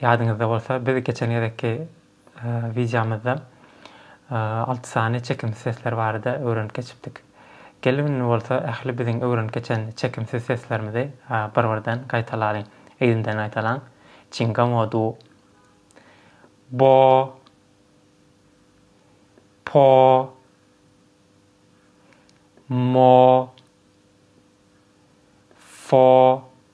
Ýadyňyzda bolsa, biz geçen gezekki wideomyzda alty sany çekimsiz sesler barada öwrenip geçipdik. Geliň indi bolsa ähli biziň öwrenip geçen çekimsiz seslerimizi bir-birden gaýtalalyň. Yzymdan gaýtalaň. Çingamo du. Bo. Po. Mo. Fo.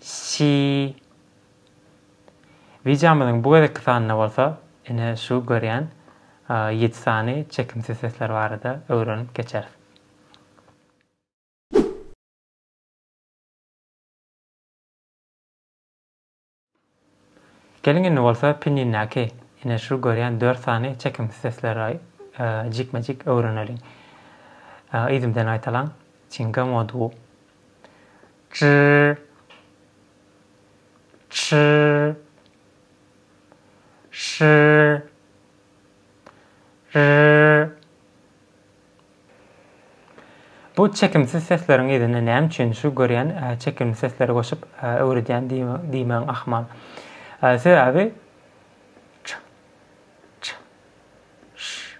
Şi Wideomyzyň bu gezekki sanynda bolsa ine şu görýän ýedi sany çekimsiz sesler barada öwrenip geçeris. Geliň indi bolsa pinjindäki ine şu görýän dört sany çekimsiz sesleri jikme-jik öwreneliň. Yzymdan aýtalaň. Çinga moduw. Çyr. Çyr. Şyr. Ryr. Bu çekimsiz sesleriň yzyna näme üçin şu görýän çekimli sesleri goşup öwredýän diýmäň ahmal. Sebäbi ç, ç, ş,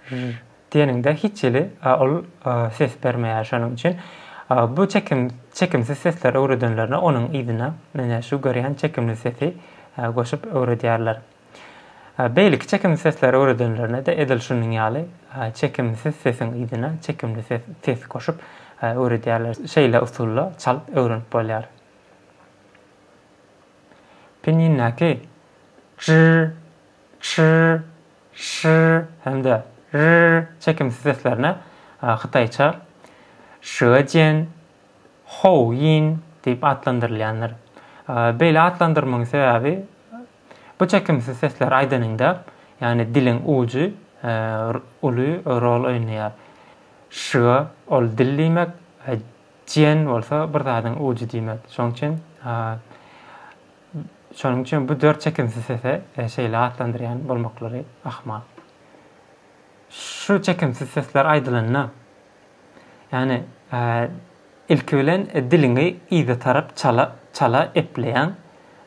ž diýeniňde hiç hili ol ses bermeýär şonuň üçin bu çekim çekimsiz sesleri öwredenlerine onuň yzyna menä şu görýän çekimli sesi goşup öwredýärler. Beýleki çekimli sesleri öwredenlerine-de edil şunuň ýaly çekimsiz sesiň yzyna çekimli ses, ses goşup öwredýärler. Şeýle usulda çalyp öwrenip bolýar. Pinjindäki jr, çr, şr hem-de rr çekimsiz seslerine hytaýça şýuejian, Hou Ýin diýip atlandyrylýandyr. Beýle atlandyrmagyň sebäbi bu çekimsiz sesleri aýdanyňda, ýagny diliň ujy uly rol oýnaýar. Şyga ol dil diýmek, jian bolsa bir zadyň ujy diýmek. Şonuň üçin şonuň üçin bu dört çekimsiz sese şeýle atlandyrýan bolmaklary ahmal. Şu çekimsiz sesler aýdylanda, Ýagny, ilki bilen diliňi yza tarap çala, çala epleýäň.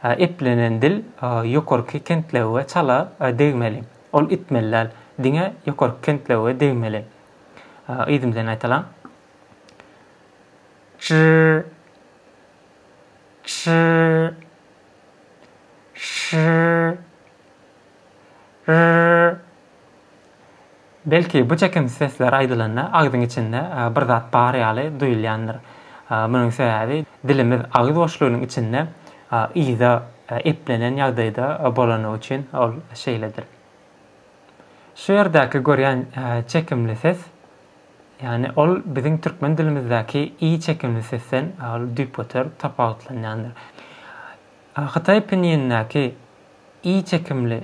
Eplenen dil ýokarky kentlewige çala degmeli. Ol itmeli däl. Diňe ýokarky kentlewige degmeli. Yzym bilen aýtalam. Çr. Çr. Çr. Rr. Belki, bu çekimsiz sesler aýdylanda agzyň içinde bir zat bar ýaly duýulýandyr. Munuň sebäbi dilimiz agyz boşlugynyň içinde yza eplenen ýagdaýda bolany üçin ol şeýledir. Şu ýerdäki görýän çekimli ses, ýagny ol biziň türkmen dilimizdäki i çekimli sesden ol düýpgöter tapawutlanýandyr. Hytaý pinýinindäki i çekimli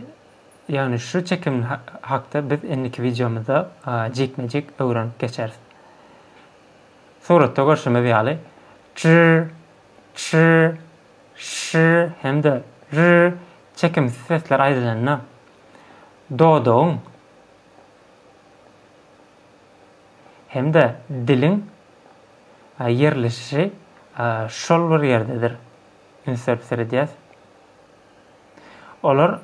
Ýagny şu çekim hakda biz indiki wideomyzda jikme-jik öwrenip geçeris. Suratda görşümiz ýaly, çy, çy, şy hem-de ry çekimsiz sesler aýdylanda, dodagyň hem-de diliň ýerleşişi şol bir ýerdedir. Üns berip seredýäs. Olar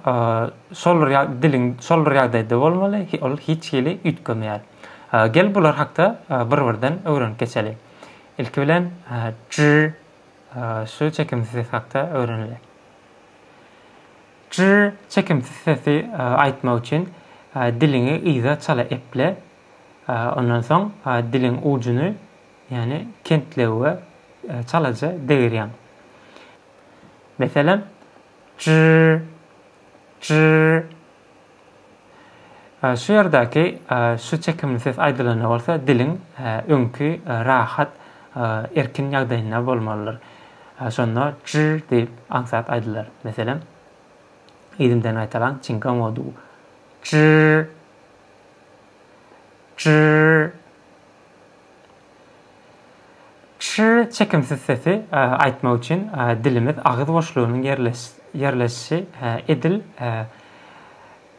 şol diliň şol bir ýagdaýda bolmaly, ol hiç hili üýtgemeýär. Gel bular hakda bir-birden öwrenip geçeli. Ilki bilen j şu çekimsiz ses hakda öwreneli. J çekimsiz sesi aýtmak üçin diliňi yza çala eple. Ondan soň diliň ujuny, ýagny kentlewe çalaja degirýäň. Meselem, jr. Şu ýerdäki şu çekimli ses aýdylanda bolsa diliň öňki rahat, erkin ýagdaýynda bolmalydyr. Şonda jr. Diýip aňsat aýdylar. Meselem, yzymdan gaýtalaň, çingamodu, jr. Jr. Şu çekimsiz sesi aýtmak üçin dilimiz agyz boşlugynyň ýerleşişi edil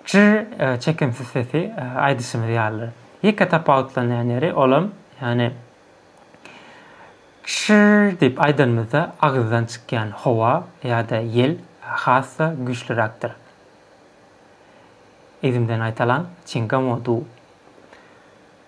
şu çekimsiz sesi aýdyşymyz ýalydyr. Ýeke tapawutlanýan ýeri olam, ýagny şu diýip aýdanymyzda agyzdan çykýan howa ýa-da ýel has-da güýçliräkdir. Yzymdan aýtalan, çingamodu.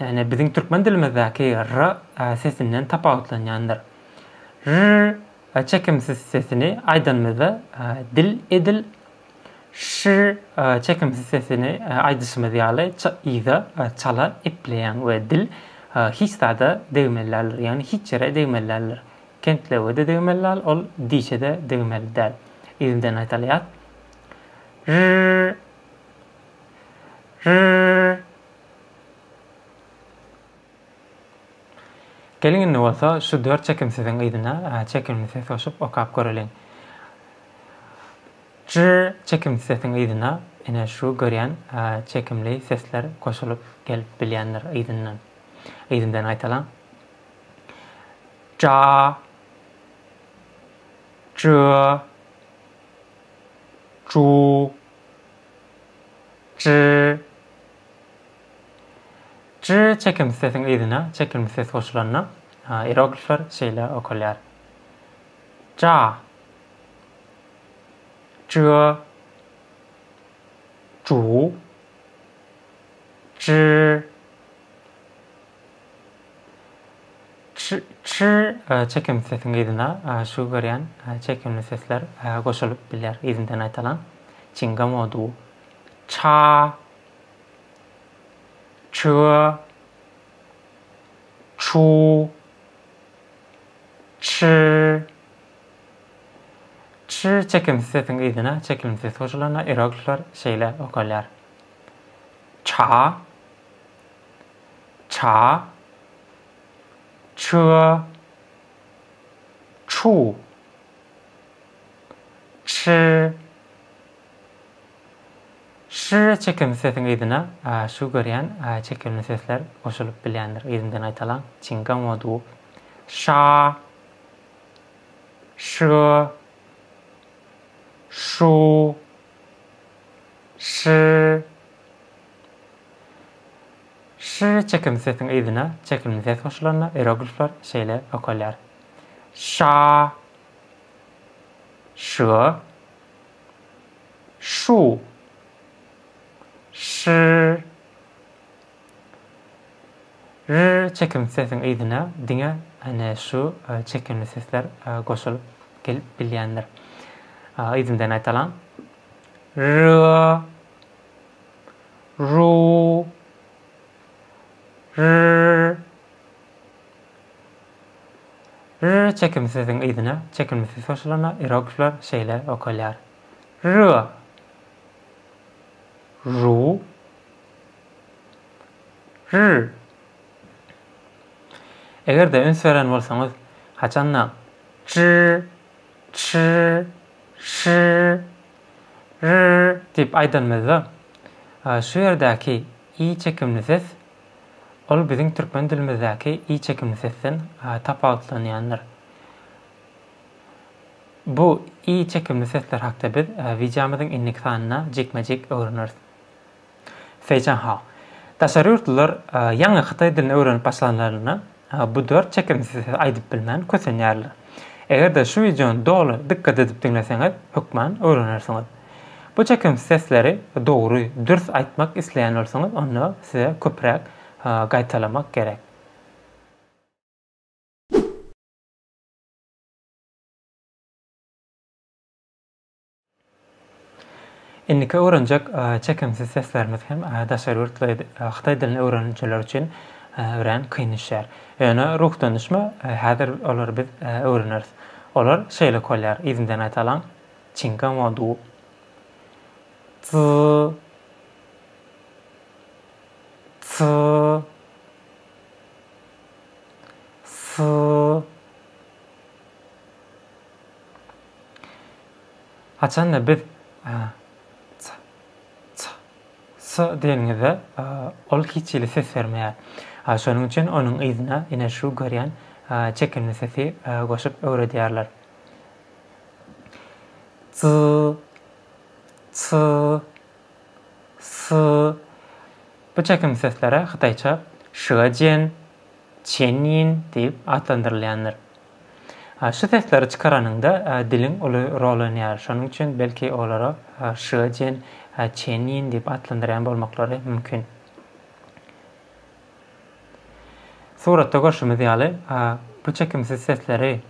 Ýagny biziň türkmen dilimizdäki r sesinden tapawutlanýandyr. Rr çekimsiz sesini aýdanymyzda dil edil şr çekimsiz sesini aýdyşymyz ýaly yza çala epleýäň we dil hiç zada degmeli däldir. Ýagny hiç ýere degmeli däldir. Kentlewe-de degmeli däl, ol dişe-de degmeli däl. Yzyndan aýdalýas. Rr. Rr. Geliň indi bolsa şu dört çekimsiziň yzyna çekimli ses goşup okap göreliň. Jr çekimsiz sesiň yzyna ine şu görýän çekimli sesler goşulyp gelip bilýändir yzyndan. Yzyndan aýtalaň. Ja. Jr. Ju. J J çekimsiz sesiň yzyna çekilmsi ses goşulanda ieroglifler şeýle okalýar. Ja J Ju J Çr çekimli sesiň yzyna şu görýän çekimli sesler goşulyp bilýär yzyndan aýtalan çinga modu ça çö çu çr Çr çekimsiz sesiň yzyna çekimli ses goşulanda ieroglifler şeýle okalýar ça ça, çyga, çu, çy, şy çekimli sesiň yzyna şu görýän çekimli sesler goşulyp bilýändir. Yzyndan aýtalaň. Çingam o duw. Şa, şy, şu, şy, Ş çekimli sesiň yzyna çekimli ses goşulanda ieroglifler şeýle okalýar. Şa. Ş. Şu. Ş. R çekimli sesiň yzyna diňe ene şu çekimli sesler goşulyp gelip bilýändir. Yzyndan aýtalam. R. ru, rr, rr çekimsiziň yzyna çekimlisi goşulanda iroglifler şeýle okalýar, rua, ru, rr. Eger-de üns beren bolsaňyz, haçanda, çr, çr, şr, Rrrr diýip aýdanymyzda, şu ýerdäki i çekimli ses, ol biziň türkmen dilimizdäki i çekimli sesden tapawutlanýandyr. Bu i çekimli sesler hakda biz wideomyzyň indiki sanynda jikme-jik öwreneris. Fei Changhao. Daşary ýurtlular ýaňy hytaý dilini öwrenip başlanlarynda bu dört çekimsiz sesi aýdyp bilmän kösenýärler. Eger-de şu wideony doly dykgat edip diňleseňiz, hökman öwrenersiňiz. Bu çekimsiz sesleri dogry, dürs aýtmak isleýän bolsaňyz, onda size köpräk gaýtalamak gerek. Indiki öwrenjek çekimsiz seslerimiz hem daşary ýurtly hytaý dilini öwrenijiler üçin örän kyn düşýär. Ýöne ruhdandyşma häzir olary biz öwreneris. Olar şeýleki bolýar, yzyndan aýdalyň, Çinga mo du. Zy. Zy. Zy. Haçanda biz s-s-s diýenimizde, ol hiç hili ses bermeýär. Şonuň üçin onuň yzyna ine şu görýän çekimli sesi goşup öwredýärler. Ts-ts-s-s. Bu çekimli seslere hytaýça şyga-jian, çen-yin diýip atlandyrylýandyr. Şu sesleri çykaranyňda diliň uly rol oýnaýar. Şonuň üçin belki olara şýejian, çenýin diýip atlandyrýan bolmaklary mümkin. Suratda görşümiz ýaly, bu çekimsiz sesleri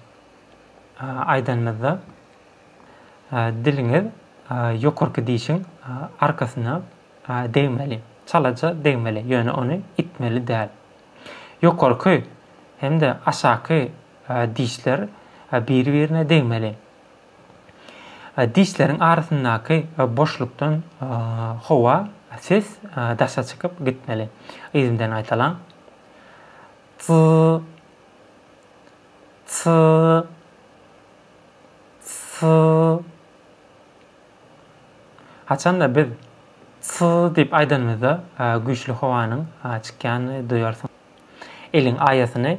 aýdanymyzda diliňiz ýokarky dişiň arkasyna degmeli, çalaja degmeli, ýöne ony itmeli däl. Ýokarky hem-de aşaky dişler biri-birine degmeli. Dişleriň arasyndaky boşlukdan howa, ses, daşa çykyp gitmeli. Yzyndan gaýtalaň. Ts. Ts. Ts. Haçanda biz Sss diýip aýdanymyzda güýçli howanyň çykýanyny duýarsyňyz. Eliň aýasyny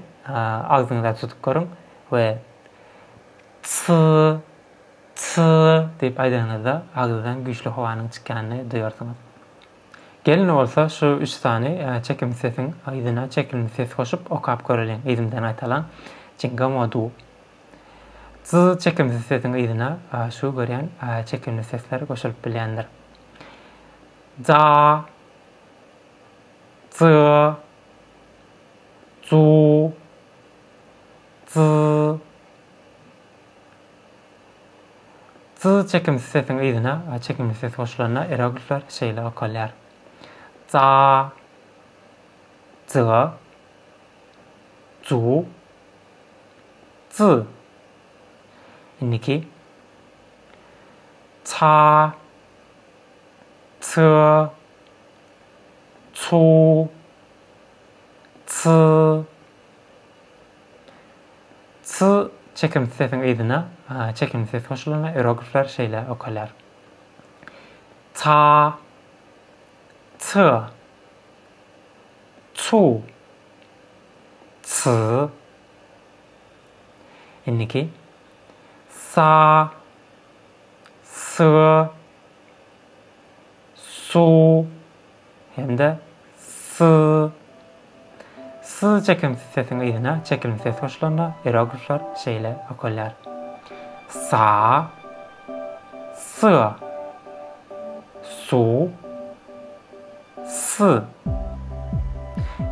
agzyňyza tutup görüň we Sss Sss diýip aýdanyňyzda agzydan güýçli howanyň çykýanyny duýarsyňyz. Gelin bolsa şu üç sany çekimli sesiň yzyna çekimli ses goşup okap göreliň yzymdan gaýtalaň Jinga modu. Jyzy çekimsiz sesiň yzyna şu görýän çekimli sesler goşulyp bilýändir. Ja Jy Ju Jy Jyzy çekimsiz sesiň yzyna çekimli ses goşulanda eroglifler şeýle okalýar. Ja Jy Ju Ç. Indiki Ça, Çy, Çu, Çy, Çy çekimsiz sesiň yzyna çekimli ses goşulanda iroglifler şeýle okalýar. Ça, Çy. Tsu. Tss. Indiki. Sa. Sı. Su. Hem-de sy. Sy çekimsiz sesiň yzyna çekilmsi ses goşulanda ieroglifler şeýle okalýar. Sa. Sı. Su. Sy.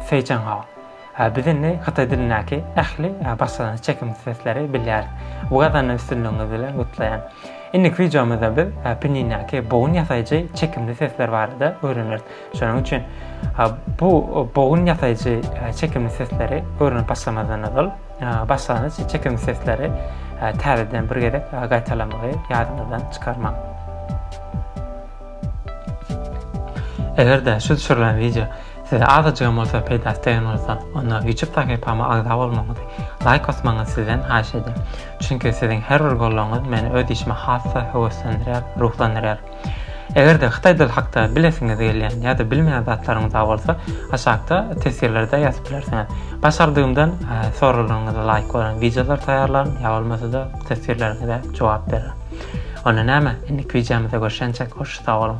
Seýçenghao. Biz indi hytaý dilindäki ähli başlangyç çekimsiz sesleri bilýäris. Bu gazanylan üstünligiňiz bilen gutlaýan. Indiki wideomyzda biz pinýindäki bogun ýasaýjy çekimli sesler barada öwreneris. Şonuň üçin bu bogun ýasaýjy çekimli sesleri öwrenip başlamazdan ozal, başlangyç çekimsiz sesleri täzeden bir gezek gaýtalamagy ýadyňyzdan çykarmaň. Eger-de şu düşürilen wideo size azajygam bolsa peýdasy degen bolsa, onda YouTube sahypama agza bolmagyňyzy, laýk basmagyňyzy sizden haýyş edýän. Çünki siziň her bir gollaryňyz meni öz işime has-da höweslendirýär, ruhlandyrýar. Eger-de hytaý dili hakda bilesiňiz gelýän ýa-da bilmeýän zatlaryňyza bolsa, aşakda teswirlerde ýazyp bilersiňiz. Başardygymdan soraglaryňyza laýyk bolan wideolar taýýarlaryn ýa bolmasa-da teswirleriňize jogap bererin. Onda näme, indiki wideomyzda görşençek hoş sag boluň.